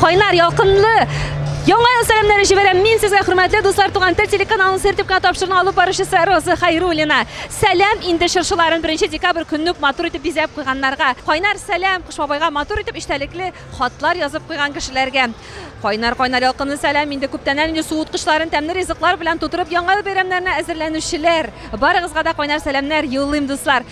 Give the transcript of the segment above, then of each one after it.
Кайнар ялкынлы Яңа ел сәламнәре җибәрәм мин сезгә, хөрмәтле дуслар, туган тел телеканалының сертификат тапшыруны алып баручысы Роза Хайруллина. Сәлам инде чыршыларын 1 декабрь көнне үк матур итеп бизәп куйганнарга. Кайнар сәлам Кыш бабайга матур итеп эчтәлекле хатлар язып куйган кешеләргә. Кайнар кайнар ялкынлы сәлам инде күптәннән инде суыткычларын тәмле ризыклар белән тутырып яңа ел бәйрәмнәренә әзерләнүчеләр. Барыгызга да кайнар сәламнәр юллыйм, дуслар.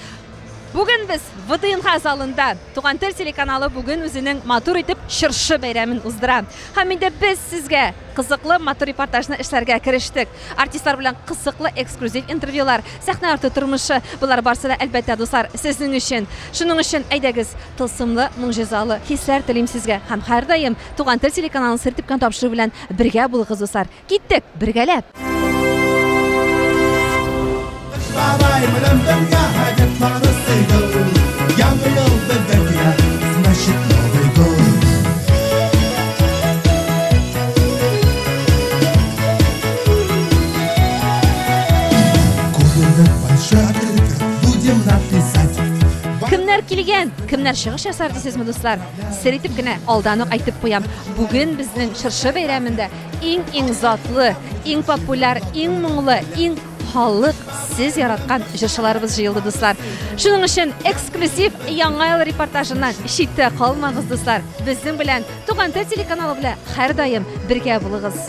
Бүген без ВДНХ залында Туган тел телеканалы бүген үзенең матур итеп чыршы бәйрәмен уздыра. Һәм инде без сезгә кызыклы матур репортажны эшләргә керештек. Артистлар белән кызыклы эксклюзив интервьюлар, сәхнә арты тормышы, болар барсы да, әлбәттә, дуслар, сезнең өчен. Шуның өчен әйдәгез, тылсымлы, могҗизалы хисләр телим сезгә һәм һәрдаим Туган тел телеканалын сер типкән тапшыру белән бергә булыгыз, дуслар. Киттек, бергәләп! кемнәр чыгыш ясар дисезме, дуслар? Сер итеп кенә алдан ук әйтеп куям. Бүген безнең чыршы бәйрәмендә Иң иң затлы, иң популяр, иң моңлы, иң халык сез яраткан җырчыларыбыз җыелды дуслар. Шуның өчен эксклюзив яңа ел репортажыннан читтә калмагыз дуслар. Безнең белән Туган тел телеканалы белән һәрдаим бергә булыгыз.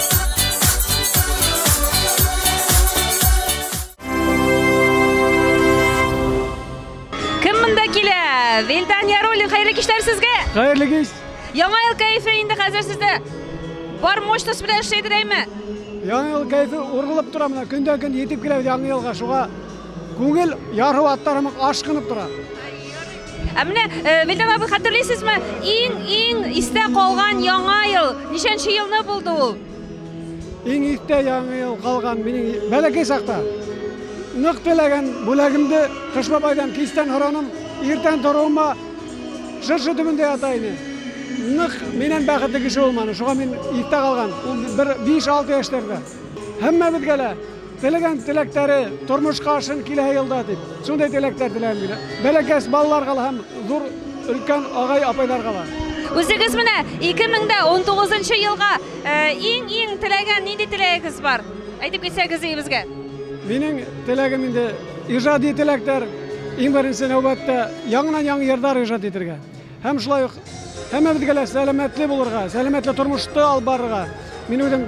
Вилдан Ярулин, хәерле кичләр сезгә! Хәерле кич! Яңа ел кәефе инде хәзер сездә бар мощность белән эшләйдер дәйме? Яңа ел кәефе ургылып тора менә, көндән көн җитеп килә яңа елга, шуңа күңел яру аттарымык ашкынып тора. Ә менә Вилдан абый хәтерлисезме, иң-иң истә калган яңа ел, ничәнче елны булды ул? Иң истә яңа ел калган минем бәләкәй чакта. Нык теләгән бүләгемде Кыш бабайдан кичтән һораным, иртән торуыма шыршы төбендә ята иде. Нык миннән бәхетле кеше булманы, шуңа мин истә калган. Ул бер 5-6 яшьләрдә. Һәммәбезгә лә теләгән теләктәре тормышка ашын килә елда дип, шундый теләктәр теләм мин. Бәләкәс балаларга һәм зур өлкән агай-апайларга да. Үзегез менә 2019 елга иң-иң теләгән нинди теләгегез бар? Әйтеп китсәгез өебезгә. Минем теләгем инде иҗади теләктәр, иң беренче нәүбәттә яңаннан-яңа җырлар иҗат итәргә. Һәм шулай ук һәммәбезгә лә сәламәтле булырга, сәламәтле тормышта алып барырга. Мин үзем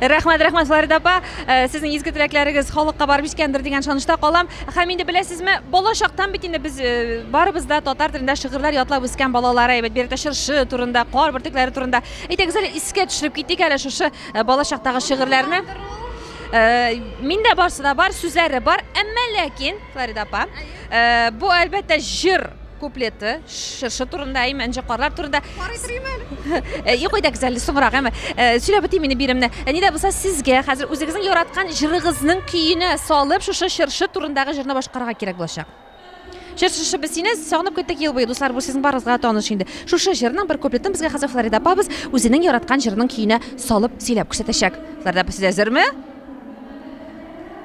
Рәхмәт, рәхмәт, Флорида апа. Э, сезнең изге теләкләрегез халыкка барып җиткәндер дигән ышанычта калам. Һәм инде беләсезме, балачактан бит инде без э, барыбыз да татар телендә шигырьләр ятлап үскән балалар, әйбәт бирдә чыршы турында, кар бөртекләре турында. Әйтегез әле искә төшереп китик әле шушы э, балачактагы шигырьләрне. Миндә барсы да бар, сүзләре бар, әмма ләкин, Флорида апа, бу әлбәттә җыр куплеты чыршы турында әйме энҗе карлар турында карый торыйм әле юк әйдәгез әле соңрак әмма сөйләп үтим инде биремне ни дә булса сезгә хәзер үзегезнең яраткан җырыгызның көенә салып шушы чыршы турындагы җырны башкарырга кирәк булачак Чыршышы без сине сагынып көттек ел буе, дуслар, бу сезнең барыгызга таныш инде. Шушы җырның бер куплетын безгә хәзер Флорида апабыз үзенең яраткан җырының көенә салып сөйләп күрсәтәчәк. Флорида апа, сез әзерме?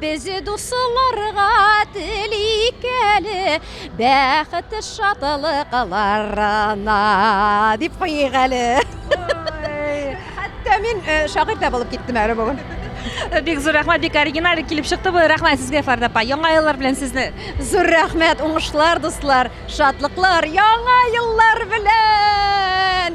Без дусыларга телик әле бәхет шатлыкларына, дип куйыйк әле. Хәтта мин э, шагыйрь дә булып киттем әле бүген. Бик зур рәхмәт, бик оригиналь килеп чыкты бу. Рәхмәт сезгә, Фәрдә апа. Яңа еллар белән сезне. Зур рәхмәт, уңышлар, дуслар, шатлыклар, яңа еллар белән!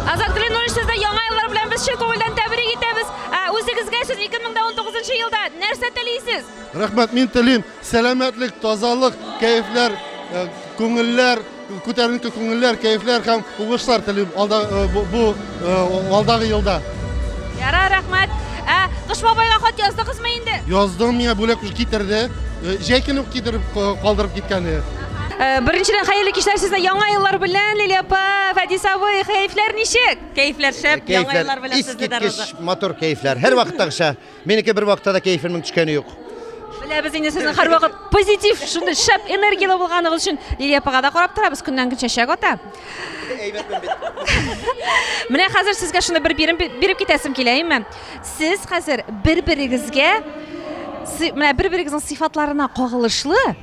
Азат Клинович, сезне яңа еллар белән без чын күңелдән тәбрик итәбез. Ә үзегезгә сез 2019 елда нәрсә телисез? Рәхмәт, мин телим сәламәтлек, тазалык, кәефләр, э, күңелләр, күтәренке күңелләр, кәефләр һәм уңышлар телим алда э, бу, бу э, алдагы елда. Яра, рәхмәт. Ә Кыш бабайга хат яздыгызмы инде? Яздым, миңа бүләк китерде. Җәй көне үк китереп калдырып киткәне. Э, Беренчедән хәерле кичләр сезне яңа еллар белән, Лилия апа, Фәдис абый, хәйфләр ничек? Кәйфләр шәп, э, яңа еллар белән сезне дә Роза. матур кәйфләр. Һәр вакыттагыча. Минеке бер вакытта да кәйфемнең төшкәне юк. Беләбез инде сезнең һәрвакыт позитив, шундый шәп энергияле булганыгыз өчен Лилия апага да карап торабыз, көннән көн чәчәк ата. Менә хәзер сезгә шуны бер бирем биреп китәсем килә, әйме? Сез хәзер бер-берегезгә менә бер-берегезнең сыйфатларына кагылышлы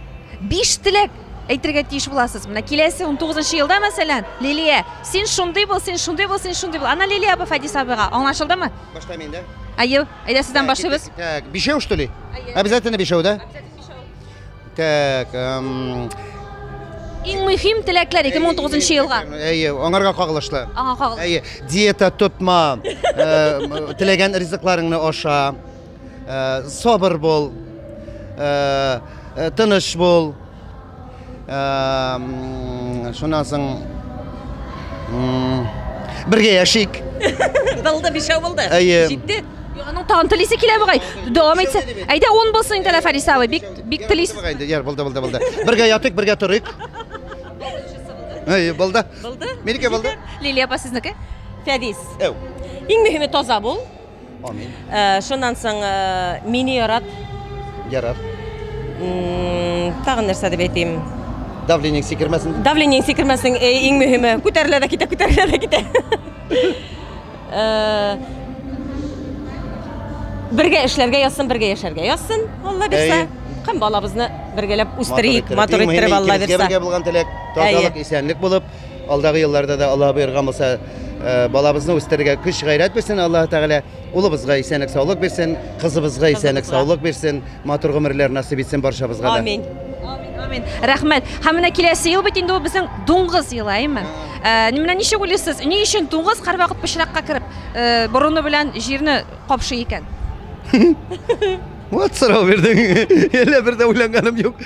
Биш теләк әйтергә тиеш буласыз. Менә киләсе 19 елда, мәсәлән, Лилия, син шундый бул, син шундый бул, син шундый бул. Ана Лилия апа Фадис абыйга аңлашылдымы? Башта мин дә. Аю, әйдә сездән башлыйбыз. Так, бишәү что ли? Обязательно бишәү, да? Так, эм... Иң мөһим теләкләр 2019 елга. Әйе, аңарга кагылышлы. Аңа кагылышлы. Әйе, диета тотма, э, теләгән ризыкларыңны аша. Э, сабыр бул э, э, тыныч бул шуннан соң бергә яшик булды бишәү булды җитте аның тагын телисе килә бугай дәвам итсә әйдә он булсын инде ләфәр исәве бик бик телис яр булды булды булды бергә ятыйк бергә торыйк әйе булды булды минеке булды лилия апа сезнеке фәдис әу иң мөһиме таза бул Амин. Ә, шуннан соң ә, мине ярат. Ярар. М, Тагын нәрсә дип әйтим. Давление сикермәсен. Давление сикермәсен э, иң мөһиме. Күтәрелә дә китә, күтәрелә дә китә. Э, Бергә эшләргә язсын, бергә яшәргә язсын. Алла бирсә, Әйе. һәм балабызны бергәләп үстерик, матур иттереп Алла бирсә. Бергә булган теләк, тазалык, исәнлек булып, Алдагы елларда да Аллаһ боерган булса, э, балабызны үстерергә көч гайрәт бирсен Аллаһ Тәгалә. Улыбызга исәнлек, саулык бирсен, кызыбызга исәнлек, саулык бирсен, матур гомерләр насыйп итсен баршабызга да. Амин. Амин, амин. Рәхмәт. Һәм менә киләсе ел бит инде ул безнең дуңгыз елы, әйме? Ә, менә ничек уйлыйсыз, ни өчен дуңгыз һәрвакыт пычракка кереп, э, борыны белән җирне капшый икән? Вот сорау бирдең. Әллә бер дә уйланганым юк.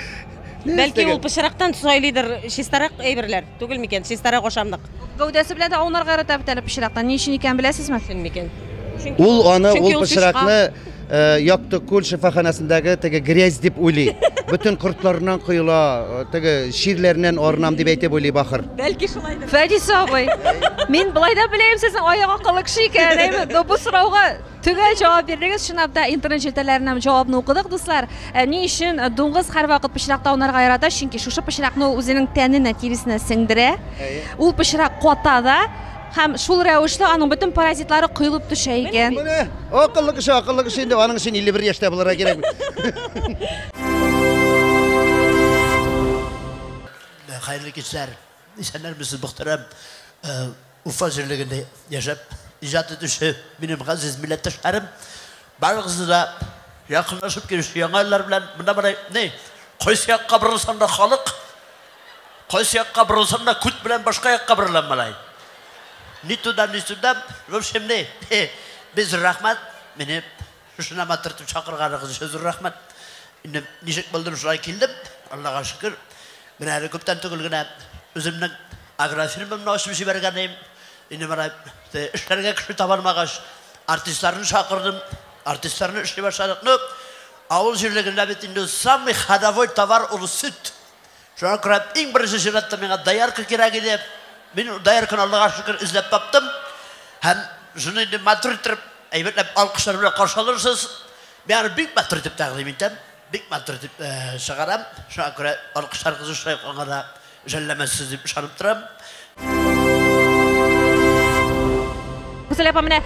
Бәлки ул пычрактан сайлыйдыр, чистарак әйберләр түгел микән? Чистарак ашамлык. Гәүдәсе белән дә аунарга ярата бит әле пычрактан. Ни өчен икәнен беләсезме? Чын микән? Ул аны, ул пычракны э, Якты күл шифаханәсендәге теге грязь дип уйлый. Бөтен кортларыннан коела, э, теге чирләреннән арынам дип әйтеп уйлый бахыр. Бәлки шулайдыр. Фәдис абый, мин былай да беләем сезнең аяк акыллы кеше икәнен, әйме? Но бу сорауга Төгәл җавап бирдегез, чынлап та интернет челтәрләреннән җавапны укыдык, дуслар. Ә, ни өчен дуңгыз һәрвакыт пычракта аунарга ярата? Чөнки шушы пычракны ул үзенең тәненә, тиресенә сеңдерә. Ул пычрак ката да һәм шул рәвешле аның бөтен паразитлары коелып төшә икән. Менә акыллы кеше, акыллы кеше инде, аның өчен 51 яшьтә булырга кирәк бит. Хәерле кичләр. Исәннәр без мөхтәрәм Уфа җирлегендә яшәп иҗат итүче минем газиз милләттәшләрем. Барыгызны да якынлашып килүче яңа еллар белән монда бара ни кайсы якка борылсаң да халык кайсы якка борылсаң да күт белән башка якка борылам малай. Ни туда ни сюда, в общем, ни. Без рәхмәт, мине Шунама төртеп чакырганыгыз өчен зур рәхмәт. Инде ничек булдым, шулай килдем. Аллага шөкер. Менә әле күптән түгел генә үземнең агрофирмамны ачып җибәргән идем. Инде менә эшләргә кеше табалмагач, артистларны чакырдым. Артистларны эшли башладык. Ну, авыл җирлегендә бит инде самый ходовой товар ул сөт. Шуңа күрә иң беренче чиратта миңа доярка кирәк иде. Мин доярканы Аллага шөкер эзләп таптым. Һәм шуны инде матур итеп, әйбәтләп алкышлар белән каршы алырсыз. Мин аны бик матур итеп тәкъдим итәм. Бик матур итеп чыгарам. Шуңа күрә алкышларыгыз шулай ук аңа да жәлләмәссез дип ышанып торам. Гүзәл апа, менә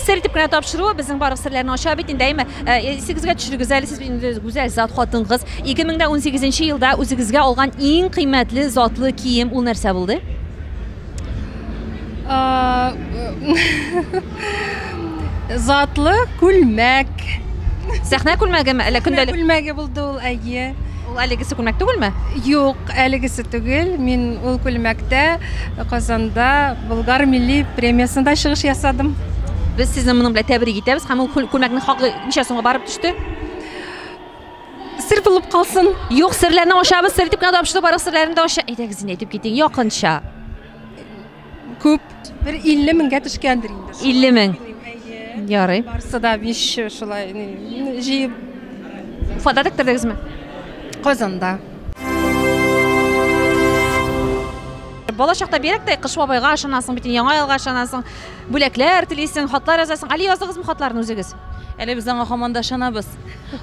сер итеп кенә тапшыру безнең барлык серләрне ача бит инде, әйме? Исегезгә төшерегез әле, сез инде гүзәл зат хатын-кыз. 2018 елда үзегезгә алган иң кыйммәтле затлы кием ул нәрсә булды? Затлы күлмәк. Сәхнә күлмәгеме, әллә көндәлек? Күлмәге булды ул, әйе. Ул әлегесе күлмәк түгелме? Юк, әлегесе түгел. Мин ул күлмәктә Казанда Болгар милли премиясендә чыгыш ясадым. Без сезне моның белән тәбрик итәбез. Һәм ул күлмәкнең хакы ничә сумга барып төште? Сер булып калсын. Юк, серләрне ачабыз, сер итеп кенә тапшырдык, барлык серләрне дә ача. Әйдәгез инде әйтеп китең, якынча. Күп. Бер 50 меңгә төшкәндер инде. 50 мең. Ярый. Барсы да биш шулай җыеп. Уфада тектердегезме? Казанда. Бала чакта бирәктәй Кыш бабайга ышанасың бит, Яңа елга ышанасың, бүләкләр телисең, хатлар язасың. Әле яздыгызмы хатларны үзегез? Әле без аңа һаман да ышанабыз.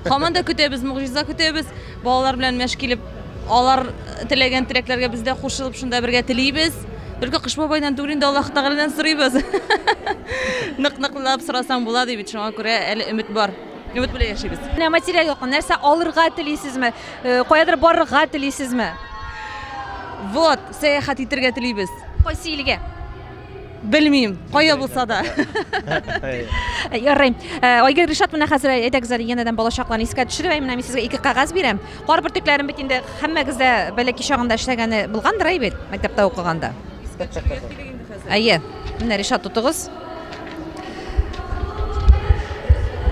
Һаман да көтәбез, могҗиза көтәбез. Балалар белән мәш килеп Алар теләгән теләкләргә без дә кушылып шунда бергә телибез. Только Кыш бабайдан түгел инде Аллаһ Тәгаләдән сорыйбыз. Нык-ныклап сорасаң була ди бит, шуңа күрә әле өмет бар. Өмет белән яшибез. Менә материаль яктан нәрсә алырга телисезме? Э, каядыр барырга телисезме? Вот, сәяхәт итәргә телибез. Кайсы илгә? Белмим, кая булса да. Ярый. Э, Айгер Ришат менә хәзер әйдәгез әле янәдән балачакларны искә төшереп, менә мин сезгә ике кагаз бирәм. Кар бөртекләрен бит инде һәммәгез дә бәләки чагында эшләгәне булгандыр әй бит, мәктәптә укыганда. Искә төшерергә кирәк инде хәзер. Әйе. Менә Ришат тотыгыз.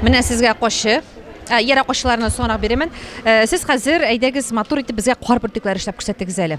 Менә сезгә кошчы. Ә, Яра кошчыларны соңрак бирәмен. Э, Сез хәзер әйдәгез матур итеп безгә кар бөртекләре эшләп күрсәтегез әле.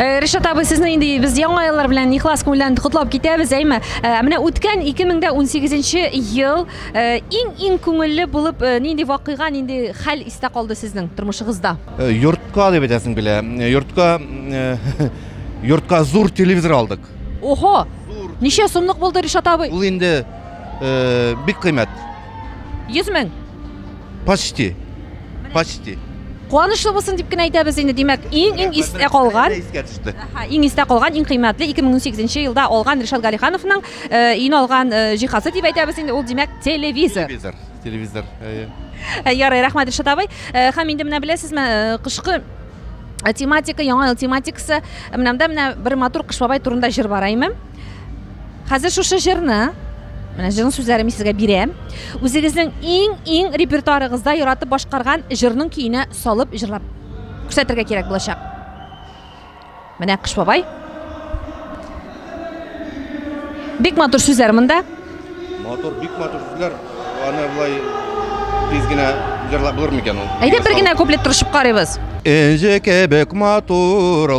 Э, Ришат абый, сезне инде без яңа еллар белән ихлас күңелдән котлап китәбез, әйме. Э, менә үткән 2018 ел иң-иң э, күңелле булып нинди вакыйга, нинди хәл истә калды сезнең тормышыгызда? Йортка дип әйтәсең белә. Йортка йортка зур телевизор алдык. Охо! Ничә сумлык булды Ришат абый? Ул инде бик кыйммәт. 100 мең. Почти. Почти. Куанычлы булсын дип кенә әйтәбез инде. Димәк, иң иң истә калган. Искә төште. Аха, иң истә калган, иң кыйммәтле 2018 елда алган Ришат Галихановның э, өйне алган э, җиһазы дип әйтәбез инде. Ул димәк телевизор. Телевизор. Телевизор. Әйе. Э, Ярый, рәхмәт Ришат абый. Э, Һәм инде менә беләсезме, э, кышкы э, тематика, яңа ел тематикасы. Менә монда менә бер матур Кыш бабай турында җыр бар, әйме? Хәзер шушы җырны, менә җырның сүзләрен мин сезгә бирәм. Үзегезнең иң-иң репертуарыгызда яратып башкарган җырның көенә салып җырлап күрсәтергә кирәк булачак. Менә Кыш бабай. Бик матур сүзләр монда. Матур, бик матур сүзләр. Аны былай тиз генә җырлап булыр микән ул? Әйдә бер генә куплет тырышып карыйбыз. Энҗе кебек матурлар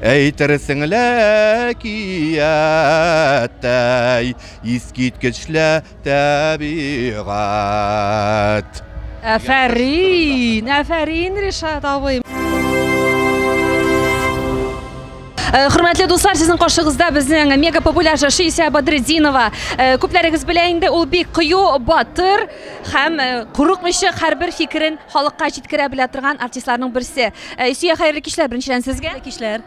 Әйтерсең лә әкияттәй, искиткечле тәбигать. Әфәрин! Әфәрин, Ришат абый! Э, хөрмәтле дуслар, сезнең каршыгызда безнең мега популяр җырчы Исә Бадретдинова. Э, күпләрегез белә инде, ул бик кыю, батыр һәм э, курыкмыйча һәрбер фикерен Халыкка җиткерә белә торган артистларның берсе. Э, Илсөя, хәерле кичләр беренчедән сезгә. Хәерле кичләр.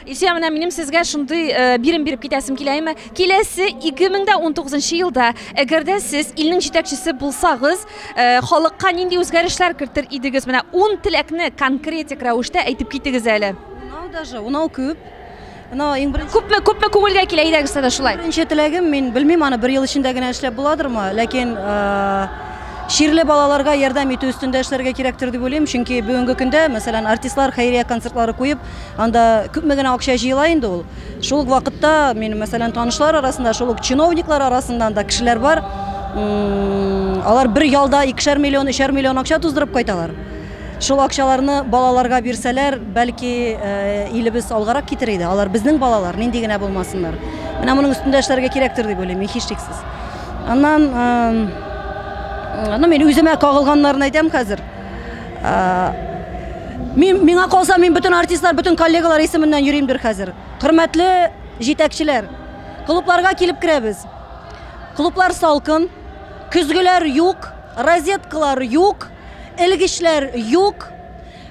Илсөя, менә минем сезгә шундый э, бирем биреп китәсем килә име. Киләсе 2019 елда, әгәр дә сез илнең җитәкчесе булсагыз, э, халыкка нинди үзгәрешләр кертер идегез? Менә 10 теләкне конкретик рәвештә әйтеп китегез әле. Унау даже, унау күп. Мына иң беренче Күпме күпме күңелгә килә әйдәгез тә шулай. Беренче теләгем мин белмим аны бер ел эчендә генә эшләп буладырмы, ләкин чирле балаларга ярдәм итү өстендә эшләргә кирәктер дип уйлыйм, чөнки бүгенге көндә, мәсәлән, артистлар хәйрия концертлары куеп, анда күпме генә акча җыела инде ул. Шул ук вакытта мин, мәсәлән, танышлар арасында, шул ук чиновниклар арасыннан да кешеләр бар, алар бер ялда икешәр миллион, өчәр миллион акча туздырып кайталар. Шул акчаларны балаларга бирсәләр, бәлки, илебез алгарак китер иде. Алар безнең балалар, нинди генә булмасыннар. Менә моның өстендә эшләргә кирәктер дип уйлыйм мин, һичшиксез. Аннан, ну, мин үземә кагылганнарны әйтәм хәзер. Мин, миңа калса, мин бөтен артистлар, бөтен коллегалар исеменнән йөримдер хәзер. Хөрмәтле җитәкчеләр, клубларга килеп керәбез. Клублар салкын, көзгеләр юк, розеткалар юк. Элгечләр юк.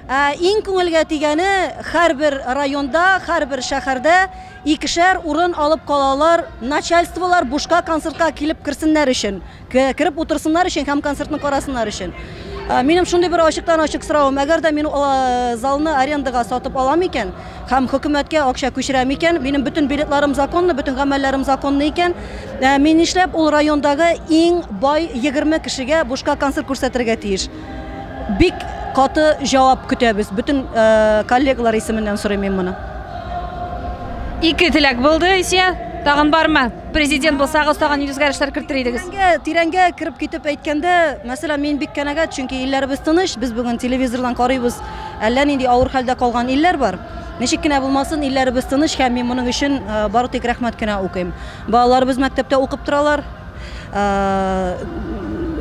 Ә иң күңелгә тигәне, һәрбер районда, һәрбер шәһәрдә икешәр урын алып калалар, начальстволар бушка концертка килеп керсеннәр өчен, кереп утырсыннар өчен һәм концертны карасыннар өчен. Минем шундый бер ачыктан-ачык соравым, әгәр дә мин залны арендага сатып алам икән, Һәм хөкүмәткә акча күчерә микән? Минем бөтен билетларым законлы, бөтен гамәлләрем законлы икән, мин нишләп ул райондагы иң бай егерме кешегә бушка концерт күрсәтергә тиеш? Бик каты җавап көтәбез. Бөтен коллегалар исеменнән сорыйм мин моны. Ике теләк булды, Исия. Тагын бармы? Президент булсагыз, тагын нинди үзгәрешләр кертер идегез? Тирәнгә, тирәнгә кереп китеп әйткәндә, мәсәлән, мин бик канәгать, чөнки илләребез тыныч, без бүген телевизордан карыйбыз, Әллә нинди авыр хәлдә калган илләр бар. Ничек кенә булмасын, илләребез тыныч һәм мин моның өчен бары тик рәхмәт кенә укыйм. Балаларыбыз мәктәптә укып торалар.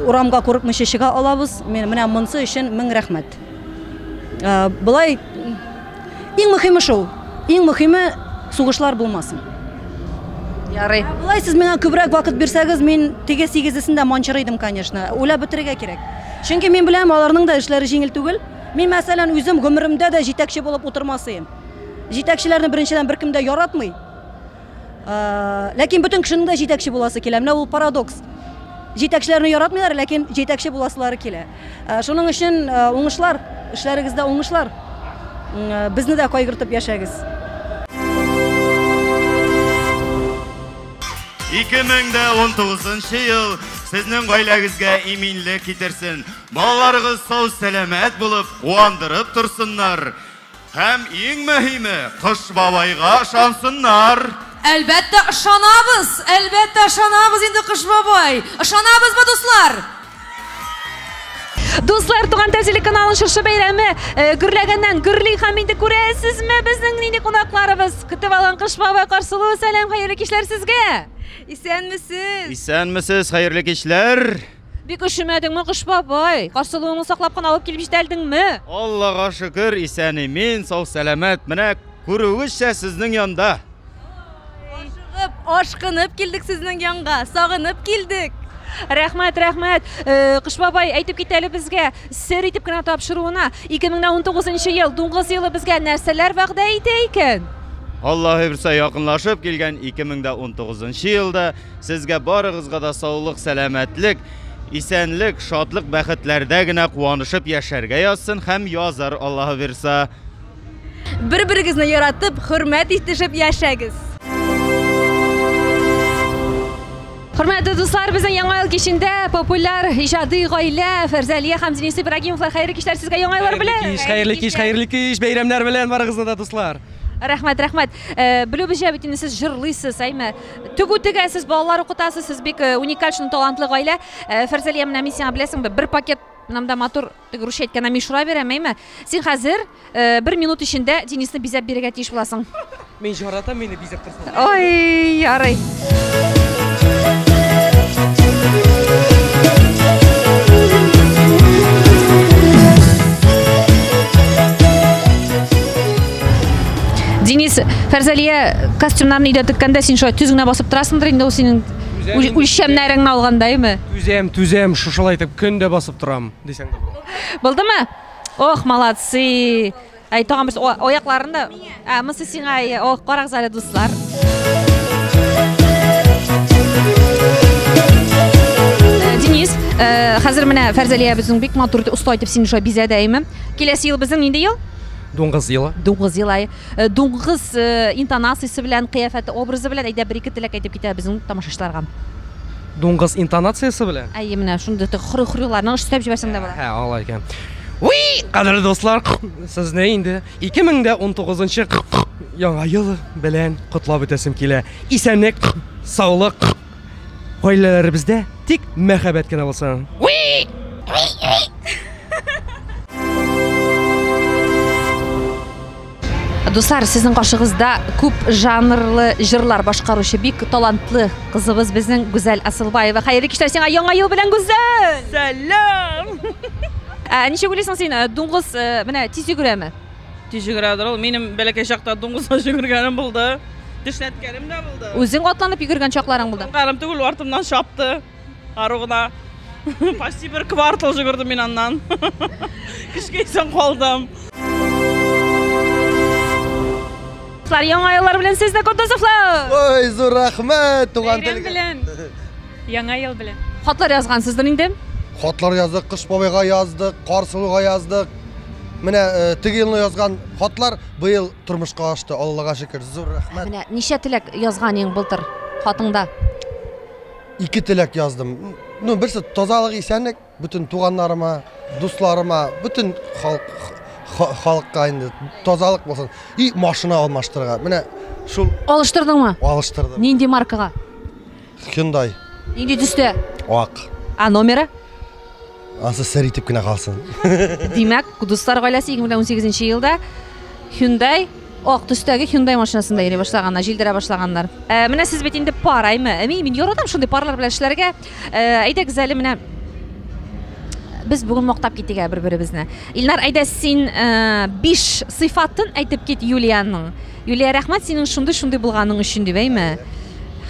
Урамга курыкмыйча чыга алабыз. Менә монсы өчен мең рәхмәт. Былай иң мөхиме шул. Иң мөхиме сугышлар булмасын. Ярый. Болай сез миңа күбрәк вакыт бирсәгез, мин теге сигезесен дә манчырыйдым, конечно. Уйлап бетерергә кирәк. Чөнки мин беләм, аларның да эшләре җиңел түгел. Мин, мәсәлән, үзем гомеремдә дә җитәкче булып утырмасыем. Җитәкчеләрне беренчедән беркем дә яратмый. Ләкин бөтен кешенең дә җитәкче буласы килә. Менә ул парадокс. Җитәкчеләрне яратмыйлар, ләкин җитәкче буласылары килә. Шуның өчен уңышлар, эшләрегездә уңышлар. Безне дә кайгыртып яшәгез. 2019 ел сезнең гаиләгезгә иминлек китерсен. Балаларыгыз сау сәламәт булып, куандырып торсыннар. Һәм иң мөһиме, Кыш бабайга ышансыннар. Әлбәттә ышанабыз, әлбәттә ышанабыз инде Кыш бабай. Ышанабызмы, дуслар? Дуслар, туган тел телеканалын шушы бәйрәме э, гөрләгәннән гөрли һәм инде күрәсезме безнең нинди кунакларыбыз? Көтеп алган Кыш бабай Карсылу, сәлам, хәерле кичләр сезгә. Исәнмесез. Исәнмесез, хәерле кичләр. Бик ошемәдеңме, Кыш бабай? Карсылуыңны саклап кына алып килеп җитәлдеңме? Аллага шөкер, исән имин, сау сәламәт. Менә күрүегезчә сезнең янда. Ашыгып, ашкынып килдек сезнең янга, сагынып килдек. Рәхмәт, рәхмәт. Э, Кыш бабай, әйтеп кит әле безгә, сер итеп кенә тапшыруына, 2019 ел, дуңгыз елы безгә нәрсәләр вәгъдә итә икән? Аллаһы бирсә, якынлашып килгән 2019 елда сезгә барыгызга да саулык, сәламәтлек, исәнлек, шатлык, бәхетләрдә генә куанышып яшәргә язсын һәм язар Аллаһы бирса. Бер-берегезне яратып, хөрмәт итешеп яшәгез! Хөрмәтле дуслар, безнең Яңа ел кичендә популяр иҗади гаилә Фәрзәлия һәм Денис Ибрагимовлар хәерле кичләр сезгә Яңа еллар белән! Хәерле кич, хәерле кич, хәерле кич! Бәйрәмнәр белән барыгызны да, дуслар! Рәхмәт, рәхмәт. Э, Белүебезчә бит инде сез җырлыйсыз, әйме? Тегү тегәсез, балалар укытасыз, сез бик э, уникаль шундый талантлы гаилә. Э, Фәрзәлия, менә мин сиңа беләсеңме, бер пакет мынамда матур Теге русча әйткәннән мишура бирәм, әйме? Син хәзер бер минут эчендә Денисны бизәп бирергә тиеш буласың. Мин җаратам, мине бизәп торсын. Ой, ярый. Денис, Фәрзәлия костюмнарны өйдә теккәндә син шулай төз генә басып торасыңдыр инде ул синең үлчәмнәреңне алганда, әйме? Түзәм, түзәм, шушылай итеп көн дә басып торам. Дисәң дә була. Булдымы? Ох, молодцы! Әй, тагын бер аякларын да. Ә, монысы сиңа, ох, карагыз әле, дуслар. Денис, э, хәзер менә Фәрзәлия безнең бик матур итеп оста итеп сине шулай бизәде әйме. Киләсе ел безнең нинди ел? Дуңгыз елы. Дуңгыз елы. Э, дуңгыз э, интонациясе белән, кыяфәте, образы белән әйдә бер ике теләк әйтеп китә безнең тамашачыларга. Дуңгыз интонациясе белән? Әйе, менә шундый тык хрю-хрюларны өстәп җибәрсәң дә була. Әһә, алай икән. Уи, кадерле дуслар, сезне инде 2019 яңа ел белән котлап үтәсем килә. Исәнлек, саулык, гаиләләребездә тик мәхәббәт кенә булсын. Уи! Дуслар, сезнең каршыгызда күп жанрлы җырлар башкаручы бик талантлы кызыбыз безнең Гүзәл Асылбаева. Хәерле кичләр сиңа яңа ел белән Гүзәл! Сәлам! Ә ничек уйлыйсың син, э, дуңгыз э, менә тиз йөгерәме? Тиз йөгерәдер ул. Минем бәләкәй чакта дуңгызга йөгергәнем булды. Тешләткәнем дә булды. Үзең атланып йөгергән чакларың булды? Карым түгел, артымнан чапты. Ару гына. Почти бер квартал жүгердем мин аннан. Кичкәйсәң калдым. Кызлар, яңа еллар белән сезне Кутузовлар! Ой, зур рәхмәт, туган Бәйрәм телгә. белән. Яңа ел белән. Хатлар язгансыздыр инде? Хатлар яздык, Кыш бабайга яздык, Карсылуга яздык. Менә э, теге елны язган хатлар быел тормышка ашты, Аллага шөкер. Зур рәхмәт. Менә ничә теләк язган ең былтыр хатыңда? Ике теләк яздым. Ну, берсе тазалык, исәнлек бөтен туганнарыма, дусларыма, бөтен халык халыкка инде тазалык булсын. И машина алмаштырырга. Менә шул Алыштырдыңмы? Алыштырдым. Нинди маркага? Hyundai. Нинди төстә? Ак. А номеры? Ансы сер итеп кенә калсын. Димәк, Кудуслар гаиләсе 2018 елда Hyundai ак төстәге Hyundai машинасында йөри башлаганнар, җилдерә башлаганнар. Ә, менә сез бит инде пар, әйме? Әми, мин яратам шундый парлар белән эшләргә. Ә, әйдәгез әле менә без бүген мактап китик бер-беребезне. Илнар, әйдә син 5 ә, сыйфатын әйтеп кит Юлиянең. Юлия, рәхмәт синең шундый-шундый булганың өчен, дип әйме.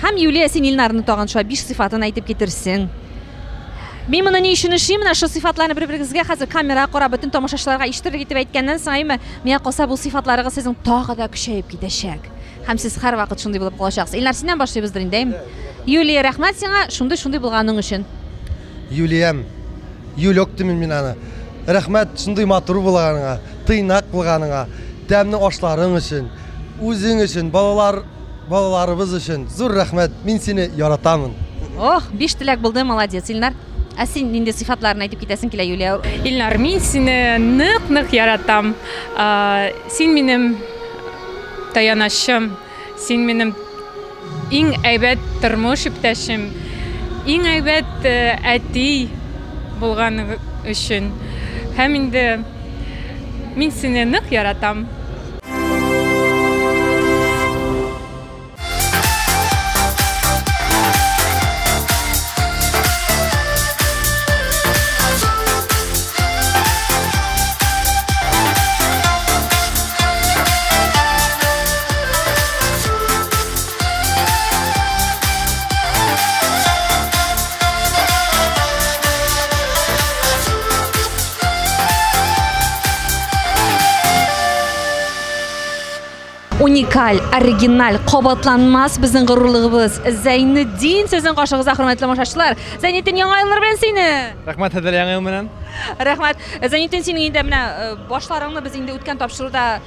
Һәм Юлия син Илнарны тагын шулай биш сыйфатын әйтеп китерсең. Мин моны ни өчен эшлим, менә шул сыйфатларны бер-берегезгә хәзер камерага карап бөтен тамашачыларга ишетерлек итеп әйткәннән соң, әйме, миңа калса бу сыйфатларыгыз сезнең тагы да көчәеп китәчәк. Һәм сез һәрвакыт шундый булып калачаксыз. Илнар, синнән башлыйбыздыр инде, әйме. Юлия, рәхмәт сиңа шундый-шундый булганың өчен. Юлиям, Юлек димен мин аны. Рәхмәт шундый матур булганыңа, тыйнак булганыңа, тәмле ашларың өчен, үзең өчен, балалар, балаларыбыз өчен. Зур рәхмәт. Мин сине яратамын. Ох, биш теләк булды, молодец, Илнар. Ә син нинди сыйфатларын әйтеп китәсең килә, Юлия? Илнар, мин сине нык-нык яратам. Син минем таянычым. Син минем иң әйбәт тормыш иптәшем, иң әйбәт э, әти булган өчен. Һәм инде мин сине нык яратам. уникаль, оригиналь, кабатланмас безнең горурлыгыбыз. Зәйнетдин сезнең каршыгызда хөрмәтле машачылар. Зәйнетдин яңа еллар белән сине. Рәхмәт хәзер яңа ел белән. Рәхмәт. Зәйнетдин синең инде менә э, башларыңны без инде үткән тапшыруда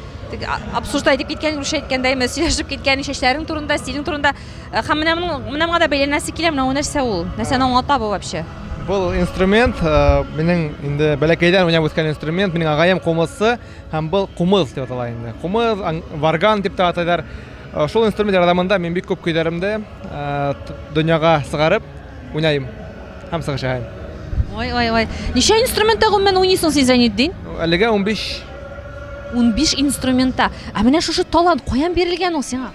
обсуждать итеп киткән русча әйткәндә именно сөйләшеп киткән чәчләрең турында стилең турында э, һәм менә моның менә моңа да бәйләнәсе килә менә ул нәрсә ул нәрсәне аңлата бу вообще Был инструмент э, минең инде бәләкәйдән уйнап үскән инструмент минең агаем кумызчы һәм был кумыз дип атала инде кумыз варган дип тә атайлар Э, шул инструмент ярдәмендә мин бик күп көйләремдә э, дөньяга сыгарып Уйнайм һәм сагышайм. Ой, ой, ой. Ничә инструментта гомумән уйныйсың син Зәйнетдин? Әлегә 15. 15 инструментта. Ә менә шушы талант каян бирелгән ул сиңа?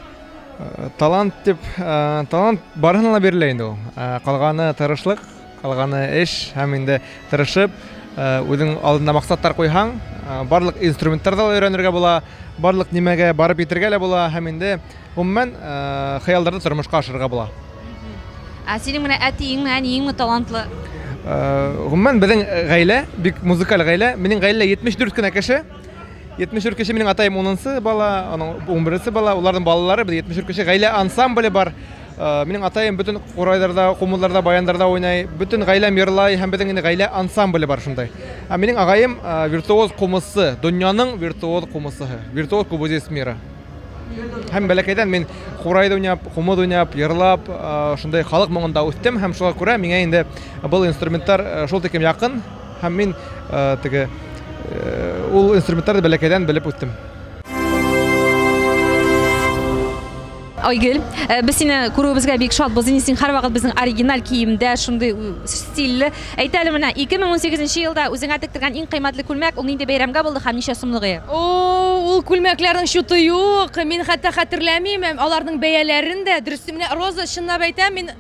Э, талант дип, э, талант барыһына да бирелә инде ул. Э, калганы тырышлык, калганы эш һәм инде тырышып, үзең алдында максаттар куйһаң, барлык инструменттар да өйрәнергә була, барлык нимәгә барып итергә лә була һәм инде Гомумән, хыялларны тормышка ашырырга була. Ә синең менә әтиеңме, әниеңме талантлы? Гомумән, безнең гаилә бик музыкаль гаилә. Минем гаилә 74 кенә кеше. 74 кеше минем атаем 10 бала, аның 11 бала, уларның балалары, без 74 кеше. Гаилә ансамбле бар. Минем атаем бөтен курайларда, кумылларда, баяндарда уйный. Бөтен гаиләм йырлай һәм безнең инде гаилә ансамбле бар шундай. Ә минем агаем виртуоз кумысчы, дөньяның виртуоз кумысчысы, виртуоз кубозист мира. Һәм бәләкәйдән мин курай уйнап, кумыт уйнап, йырлап, шундый халык моңында үстем һәм шуңа күрә миңа инде был инструментлар шул тикем якын һәм мин теге ул инструментларны бәләкәйдән белеп үстем. Айгөл, э, без сине күрүебезгә бик шатбыз. Инде син һәрвакыт безнең оригиналь киемдә, шундый стильле. Әйт әле менә, 2018 нче елда үзеңә тектергән иң кыйммәтле күлмәк, ул нинди бәйрәмгә булды һәм ничә сумлык иде? О, ул күлмәкләрнең чуты юк, мин хәтта хәтерләмим аларның бәяләрен дә. Дөресен, менә, Роза, чынлап әйтәм, мин.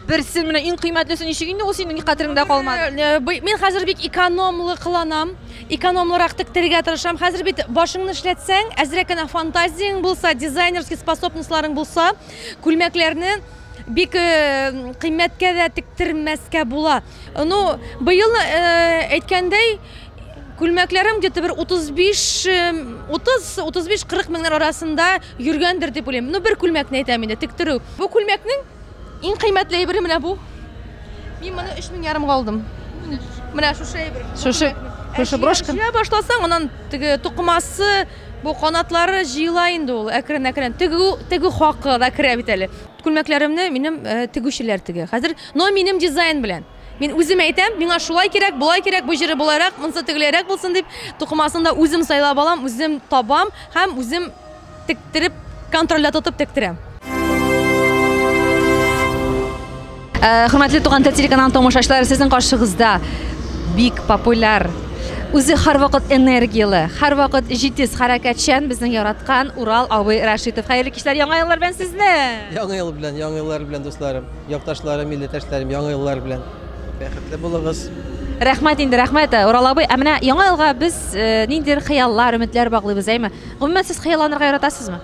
Берсен, менә иң кыйммәтлесе ничек инде ул синең ник хәтереңдә калмады? Бый, мин хәзер бик экономлы кыланам, экономлырак тектерергә тырышам. Хәзер бит башыңны эшләтсәң, әзрәк кенә фантазияң булса, дизайнерский способностьларың булса, күлмәкләрне. Бик кыйммәткә дә тектермәскә була. Ну, быел әйткәндәй, күлмәкләрем где-то бер 35-30-35-40 меңнәр арасында йөргәндер дип уйлыйм. Ну, бер күлмәкне әйтәм инде, тектерү. Бу күлмәкнең иң кыйммәтле әйбере менә бу. Мин моны 3 мең ярымга алдым. Менә шушы әйбер. Шушы, шушы брошка. Җыя башласаң, аннан теге тукымасы, Бу канатлары җыела инде ул әкрен-әкрен. Тегү, тегү хакы да керә бит әле. Күлмәкләремне минем тегүчеләр тегә хәзер, но минем дизайн белән. Мин үзем әйтәм, миңа шулай кирәк, болай кирәк, бу җыры болайрак, монысы тегеләйрәк булсын дип, тукымасын да үзем сайлап алам, үзем табам һәм үзем тектереп, контрольдә тотып тектерәм. Э, хөрмәтле туган тел телеканалы тамашачылары сезнең каршыгызда бик популяр үзе һәрвакыт энергияле һәрвакыт җитез хәрәкәтчән безнең яраткан урал абый рәшитов хәерле кичләр яңа еллар белән сезне яңа ел белән яңа еллар белән дусларым якташларым милләттәшләрем яңа еллар белән бәхетле булыгыз рәхмәт инде рәхмәт э, урал абый ә менә яңа елга без э, ниндидер хыяллар өметләр баглыйбыз әйме гомумән сез хыялланырга яратасызмы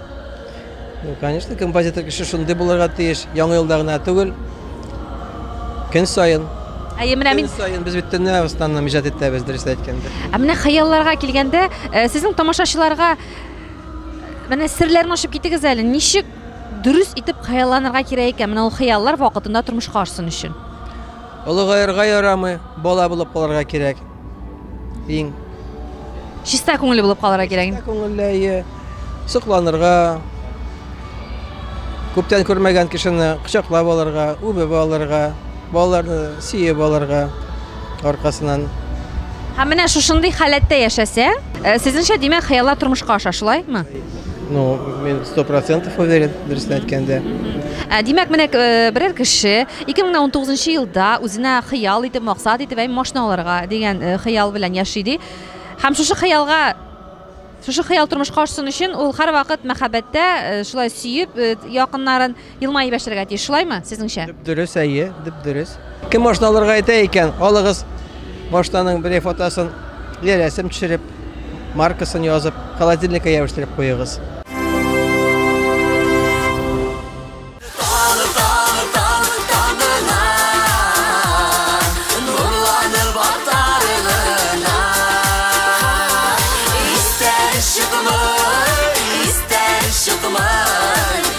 Ну, конечно, композитор кеше шундый булырга тиеш. Яңа елда гына түгел. Көн саен. Әйе, менә мин Көн саен без бит төнлә Русланны иҗат итәбез, дөрес әйткәндә. Ә менә хыялларга килгәндә, э, сезнең тамашачыларга э, менә серләрен ачып китегез әле. Ничек дөрес итеп хыялланырга кирәк икән? Менә ул хыяллар вакытында тормышка ашсын өчен. Олыгаерга ярамый, бала булып калырга кирәк. Иң. Чиста күңелле булып калырга кирәк. Чиста күңелле, әйе. Сокланырга, күптән күрмәгән кешене кочаклап алырга, үбеп алырга, балаларны сөеп алырга аркасынан. Һәм менә шушындый халәттә яшәсәң, э, сезнеңчә, димәк, хыяллар тормышка аша, шулаймы? Ну, мен сто процентов уверен, дөресен әйткәндә. Ә, Димәк, менә э, берәр кеше 2019 елда үзенә хыял итеп, максат итеп, әй машина алырга дигән э, хыял белән яши ди. Һәм шушы хыялга шушы хыял тормышка ашсын өчен ул һәрвакыт мәхәббәттә, э, шулай сөеп, якыннарын Елмаеп яшәргә тиеш, шулаймы, сезнеңчә? Дөп-дөрес, әйе, дөп-дөрес. Кем машина алырга әйтә икән, алыгыз машинаның берәй фотосын, или рәсем төшереп, маркасын язып, холодильникка ябештырып куегыз. Истән чыкмый, истән чыкмый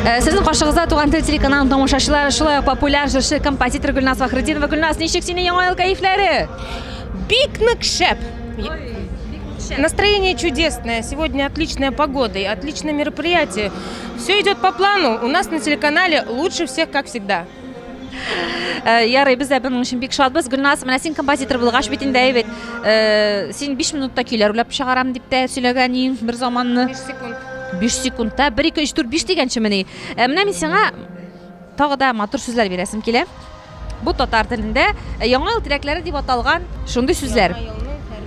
Э, Сезнең каршыгызда Туган тел телеканалының тамашачылары, шулай ук популяр җырчы, композитор Гөлназ Фахрытдинова. Гөлназ, ничек сине яңа ел кәефләре? Бик нык шәп. Настроение чудесное. Сегодня отличная погода и отличное мероприятие. Все идет по плану. У нас на телеканале лучше всех, как всегда. Э, ярый без дә буның өчен бик шатбыз гөлназ менә син композитор булгач бит инде әйбәт э, син биш минутта көйләр уйлап чыгарам дип тә сөйләгән идең бер заманны биш секунд биш секундта бер ике өч дүрт биш дигәнчемени э, менә мин сиңа тагы да матур сүзләр бирәсем килә бу татар телендә яңа ел теләкләре дип аталган шундый сүзләр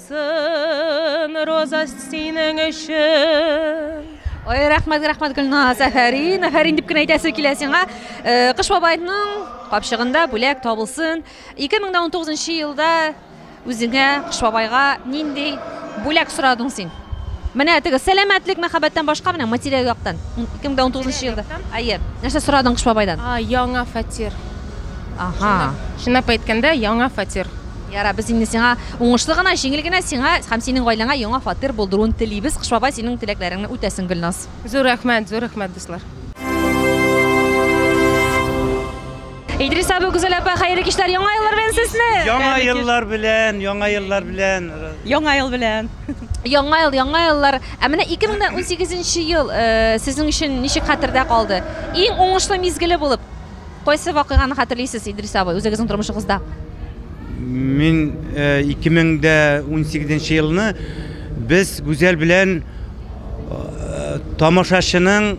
Сын, Роза, синең өчен. Ой, рәхмәт, рәхмәт, Гөлназ, әфәрин, әфәрин дип кенә әйтәсе килә сиңа. Э, Кыш бабайның капчыгында бүләк табылсын. 2019 елда үзеңә Кыш бабайга нинди бүләк сорадың син? Менә теге сәламәтлек, мәхәббәттән башка менә материаль яктан. 2019 елда. Әйе. Нәрсә сорадың Кыш бабайдан? А, яңа фатир. Ага. Чынлап әйткәндә, яңа фатир. Ярар, без инде сиңа уңышлы гына, җиңел генә, сиңа һәм синең гаиләңә яңа фатир булдыруын телибез. Кыш бабай синең теләкләреңне үтәсен, Гөлназ. Зур рәхмәт, зур рәхмәт, дуслар. Идрис абый, Гүзәл апа, хәерле кичләр, Яңа еллар белән сезне! Яңа еллар белән, яңа еллар белән. Яңа ел белән. Яңа ел, яңа еллар. Ә менә 2018 ел сезнең өчен ничек хәтердә калды? Иң уңышлы мизгеле булып? Кайсы вакыйганы хәтерлисез, Идрис абый, үзегезнең тормышыгызда? Мин 2018 нче елны без Гүзәл белән тамашачының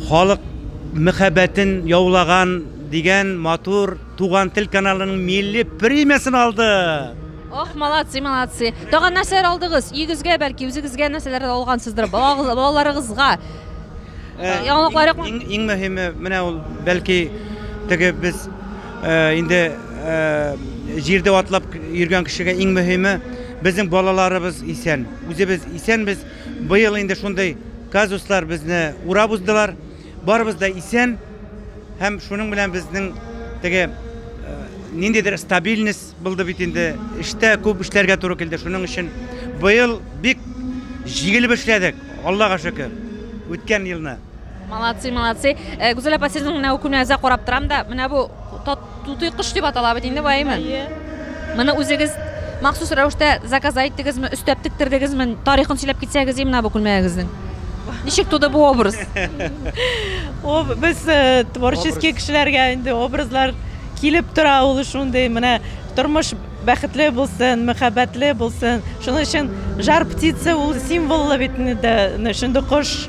халык мәхәббәтен яулаган дигән матур Туган тел каналының милли премиясен алдык. Ох, молодцы, молодцы. Тагын нәрсәләр алдыгыз? Өегезгә бәлки үзегезгә нәрсәләр алгансыздыр? Балаларыгызга. Э, яңалыклар юкмы? Иң, иң мөһиме менә ул бәлки теге без э, инде э, җирдә атлап йөргән кешегә иң мөһиме безнең балаларыбыз исән. Үзебез исәнбез. Быел инде шундый казуслар безне урап уздылар. Барыбыз да исән һәм шуның белән безнең теге э, ниндидер стабильность Булды бит инде, эштә күп эшләргә туры килде, шуның өчен быел бик җигелеп эшләдек, Аллага шөкер, үткән елны. Молодцы, молодцы. Э, Гүзәл апа, сезнең менә үкүне әзә карап торам да, менә бу тутый кош дип атала бит инде баемы? Моны үзегез махсус рәвештә заказ иттегезме, өстәп тектердегезме? Тарихын сөйләп китсәгез, и менә бу күлмәгегезнең. Ничек туды бу образ? О, без э, творческий кешеләргә инде образлар Килеп тора ул шундый, менә тормыш бәхетле булсын, мәхәббәтле булсын. Шуның өчен жар птица ул символлы бит инде, шундый кош.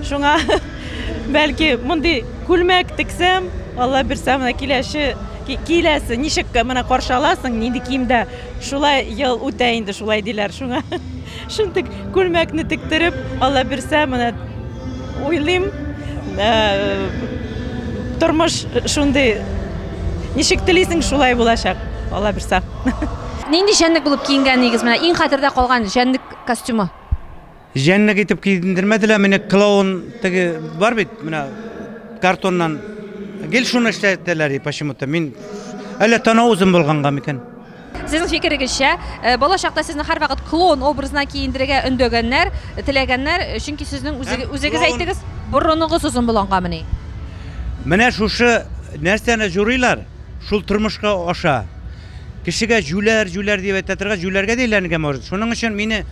Шуңа бәлки мондый күлмәк тексәм, Алла бирсә, менә киләче киләсе ничек менә каршы аласың, нинди киемдә, шулай ел үтә инде шулай диләр шуңа. Шундый күлмәкне тектереп, Алла бирсә, менә уйлыйм, тормыш шундый, ничек телисең, шулай булачак, Алла бирсә. Нинди җәнлек булып киенгәнегез менә иң хәтердә калган җәнлек костюмы? Җәнлек итеп киендермәделәр мине, клоун теге бар бит, менә картоннан гел шуны эшләтәләр почему-то. Мин әллә танау үзем булганга микән? Сезнең фикерегезчә, балачакта сезне һәрвакыт клоун образына киендерергә өндәгәннәр, теләгәннәр, чөнки сезнең үзегез әйтегез, борыныгыз озын булгангамыни? Менә шушы нәрсәне җурыйлар, шул тормышка аша. Кешегә җүләр, җүләр дип әйтә торгач, җүләргә дә әйләнергә может. Шуның өчен мине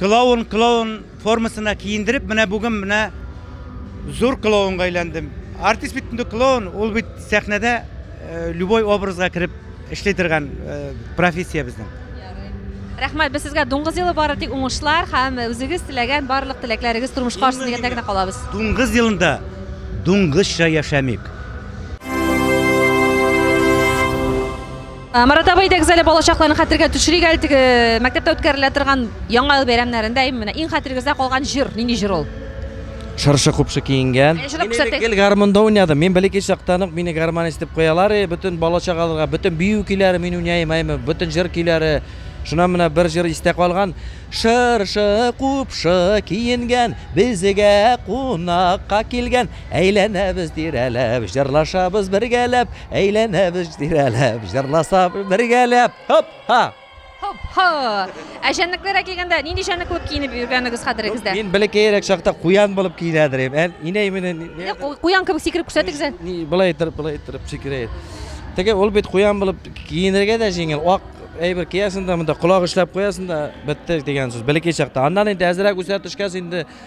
клоун, клоун. формасына киендереп, менә бүген менә зур клоунга әйләндем. Артист бит инде клоун, ул бит сәхнәдә э, любой образга кереп эшли торган э, профессия безнең. Рәхмәт, без сезгә дуңгыз елы бары тик уңышлар һәм үзегез теләгән барлык теләкләрегез тормышка ашсын дигәндә генә калабыз. Дуңгыз елында дуңгызча яшәмик. Э, Марат абый әйтегез әле балачакларны хәтергә төшерик әле теге э, мәктәптә үткәрелә торган яңа ел бәйрәмнәрендә менә иң хәтерегездә калган җыр, нинди җыр ул? Шыршы купшы киенгән. Әйе, җырап күрсәтегез. Гел гармонда уйнадым. Мин бәләкәй чактан ук мине гармонист дип куялар. И, бөтен балачагаларга, бөтен бию көйләре мин уйнайм, әйме, бөтен җыр көйләре. Шуннан менә бер җыр истә калган. Шыршы купшы киенгән, безгә кунакка килгән. Әйләнәбез тирәләп, җырлашабыз бергәләп, Әйләнәбез тирәләп, җырласабыз бергәләп. Хоп, ха! Хоп, ха! Ә җәнлекләргә килгәндә, нинди җәнлек булып киенеп йөргәнегез хәтерегездә? Мин бәләкәерәк чакта куян булып киенәдер идем. Ә инәй менә Менә ку- Куян кебек сикереп күрсәтегез әле. ни былай торып, былай торып сикерә. Теге ул бит куян булып киенергә дә җиңел. Ак әйбер киясең дә, монда колак эшләп куясың да, бетте дигән сүз. Бәләкәй чакта. Аннан инде әзрәк үсә төшкәч инде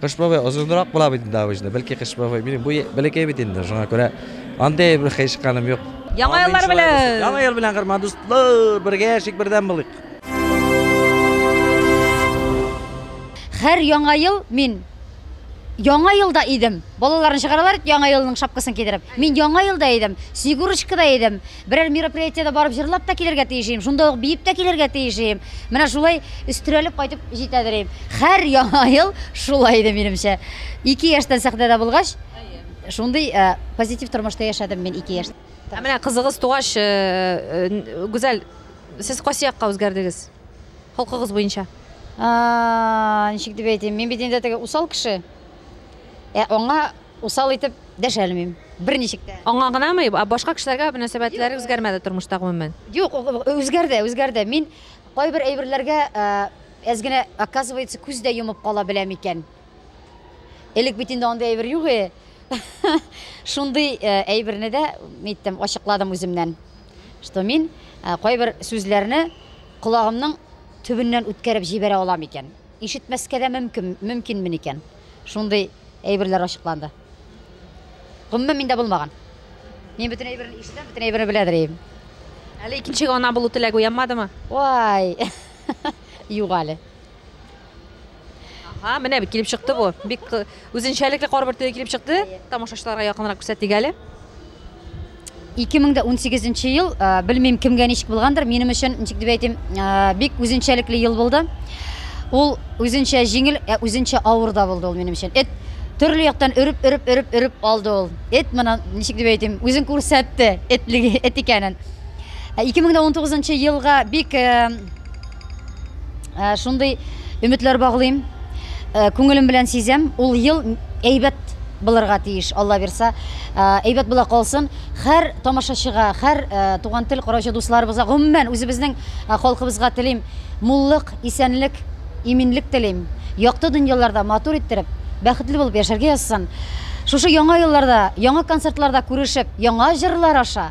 Кыш бабай озынрак була бит инде обычно. Бәлки Кыш бабай минем бу бәләкәй бит инде. Шуңа күрә андый бер хәйшканым юк. Яңа еллар белән. Яңа ел белән кырма дуслар, бергә яшик, бердәм булыйк. Хәр яңа ел мин Яңа елда идем. Балаларны чыгаралар яңа елның шапкасын кидереп. Мин яңа елда идем. Снегурочкада идем. Берәр мероприятиедә барып җырлап та килергә тиеш идем, шунда ук биеп тә килергә тиеш идем. Менә шулай өстерәлеп кайтып җитәдер идем. Һәр Яңа ел шулай иде, минемчә. Ике яшьтән сәхнәдә булгач, шундый позитив тормышта яшәдем мин ике яшь. Ә менә кызыгыз тугач, Гүзәл, сез кайсы якка үзгәрдегез? Холкыгыз буенча. Ничек дип әйтим, мин бит инде теге усал кеше. Ә аңа. Усал итеп дәшәлмим, берничек тә. Аңа гынамы, ә башка кешеләргә мөнәсәбәтләре үзгәрмәде тормышта гомумән? Юк, үзгәрде, үзгәрде. Мин кайбер әйберләргә әз генә, оказывается, күз дә йомып кала беләм икән. Элек бит инде андый әйбер юк и. Шундый әйберне дә әйттем, ачыкладым үземнән. Что мин кайбер сүзләрне колагымның төбеннән үткәреп җибәрә алам икән. Ишетмәскә дә мөмкин, мөмкинмен икән. Шундый әйберләр ачыкланды. Гомумән миндә булмаган. Мин бөтен әйберне ишетәм, бөтен әйберне белә дирим. Әле икенчегә ана булу теләге уянмадымы? Вай! Юк әле. Ага, менә бит килеп чыкты бу. Бик э, үзенчәлекле карбыр төе килеп чыкты. Тамашачыларга якынрак күрсәтик әле. 2018 нче ел, э, белмим кемгә ничек булгандыр, минем өчен ничек дип әйтим, э, бик үзенчәлекле ел булды. Ул үзенчә җиңел, ә үзенчә авыр да булды ул минем өчен. Эт төрле яктан өреп, өреп, өреп, өреп алды ул. Эт моны ничек дип әйтим, үзен күрсәтте, этлеге, эт икәнен. Ә 2019 елга бик э, Ә, шундый өметләр баглыйм. Ә, күңелем белән сизәм, ул ел әйбәт булырга тиеш, Алла бирса. Ә, әйбәт була калсын. Хәр тамашачыга, хәр ә, туган тел караучы дусларыбызга, гомумән үзебезнең ә, халкыбызга телим муллык, исәнлек, иминлек телим. Якты дөньяларда матур иттереп, бәхетле булып яшәргә язсын. Шушы яңа елларда, яңа концертларда күрешеп, яңа җырлар аша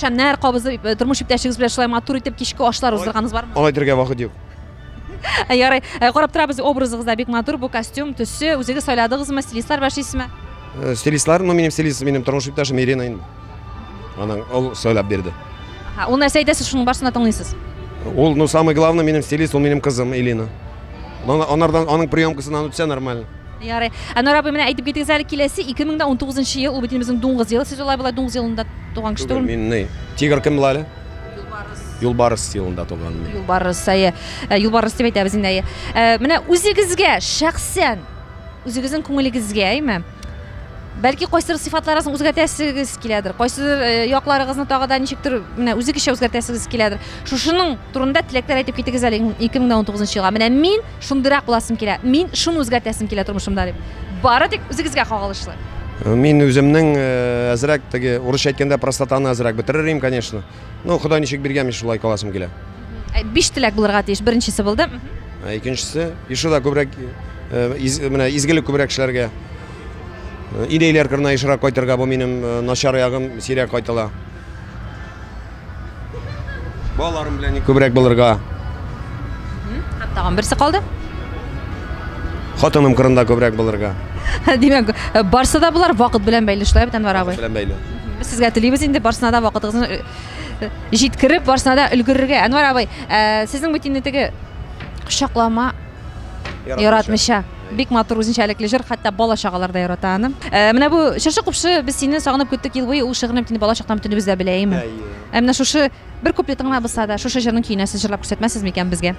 Шәмнәр кабызып, э, тормыш иптәшегез белән шулай матур итеп кичке ашлар уздырганыгыз бармы? Алай дергә вакыт юк. Ярый, э, карап торабыз, образыгыз да бик матур, бу костюм, төсе, үзегез сайладыгызмы, стилистлар белән эшлисезме? Э, Стилистлар, ну минем стилист, минем тормыш иптәшем Ирина инде. Аның ул сөйләп бирде. Ага, ул нәрсә әйтәсез, шуның барсын да тыңлыйсыз. Ул, ну самый главный, минем стилист, ул минем кызым Илина. Ана- Анардан аның приемкасыннан үтсә нормально. Ярый. Әнвәр абый, менә әйтеп китегез әле, киләсе 2019 нчы ел, ул бит инде безнең дуңгыз елы. Сез алай-болай дуңгыз елында туган кеше Түгел, түгелме? мин ни, тигр кем була әле? Юлбарыс елында туган мин. Юлбарыс, әйе. Ә, Юлбарыс дип әйтәбез инде, әйе. Ә, Менә үзегезгә шәхсән, үзегезнең күңелегезгә, әйме? Бәлки кайсыдыр сыйфатларыгызны үзгәртәсегез киләдер, кайсыдыр э, якларыгызны тагы да ничектер менә үзегезчә үзгәртәсегез киләдер. Шушының турында теләкләр әйтеп китегез әле 2019 елга. Менә мин Шундыйрак буласым килә. Мин шуны үзгәртәсем килә тормышымда дип. Бары тик үзегезгә кагылышлы. Мин үземнең әзрәк теге урысча әйткәндә простотаны әзрәк бетерер идем, конечно. Ну, Ходай ничек биргән, мин шулай каласым килә. Биш теләк булырга тиеш. Беренчесе булды. Икенчесе, еще да күбрәк менә изгелек күбрәк эшләргә. Инәйләр кырына ешрак кайтырга, бу минем начар ягым, сирәк кайтыла. Балаларым белән ни күбрәк булырга. Һәм тагын берсе калды. Хатыным кырында күбрәк булырга. Димәк, э, барсы да болар вакыт белән бәйле шулай бит Әнвәр абый. Белән бәйле. Без сезгә телибез инде барсына да вакытыгызны э, э, җиткереп, барсына да өлгерергә. Әнвәр абый, э, сезнең бит инде теге кочаклама Яратмыйча. Бик матур үзенчәлекле җыр, хәтта бала чагалар да ярата аны. Э, менә бу Чыршы купшы без сине сагынып көттек ел буе, ул шигырьне бит инде бала чактан бөтенебез дә белә, әйеме? Ә менә шушы бер куплетын гына булса да, шушы җырның көенә сез җырлап күрсәтмәсез микән безгә?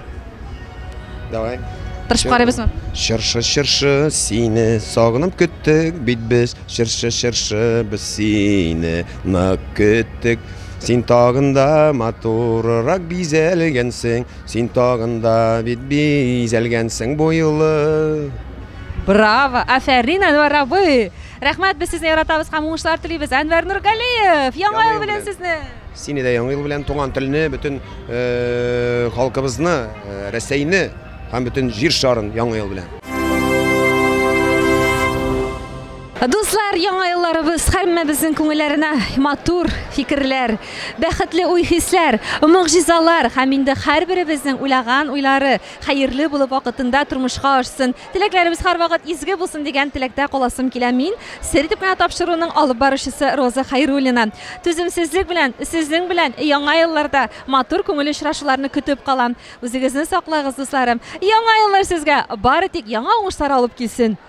Давай. Тырышып карыйбызмы? Чыршы, чыршы, сине сагынып көттек бит без. Чыршы, чыршы, без сине нык көттек. Син тагында матурырак бизәлгәнсең, Син тагын да бит бизәлгәнсең бу юлы. Браво! Афәрин, Әнвәр абый! Рәхмәт, без сезне яратабыз һәм уңышлар телибез. Әнвәр Нургалиев, яңа ел белән сезне! Сине дә яңа ел белән туган телне, бөтен э, халкыбызны, э, Рәсәйне һәм бөтен җир шарын яңа ел белән. Дуслар, яңа елларыбыз һәммәбезнең күңелләренә матур фикерләр, бәхетле уй-хисләр, могҗизалар һәм инде һәрберебезнең уйлаган уйлары хәерле булып вакытында тормышка ашсын, теләкләребез һәрвакыт изге булсын дигән теләктә каласым килә мин, сер итеп кенә тапшыруның алып баручысы Роза Хәйруллина. Түземсезлек белән, сезнең белән яңа елларда матур күңелле очрашуларны көтеп калам. Үзегезне саклагыз, дусларым. Яңа еллар сезгә бары тик яңа уңышлар алып килсен!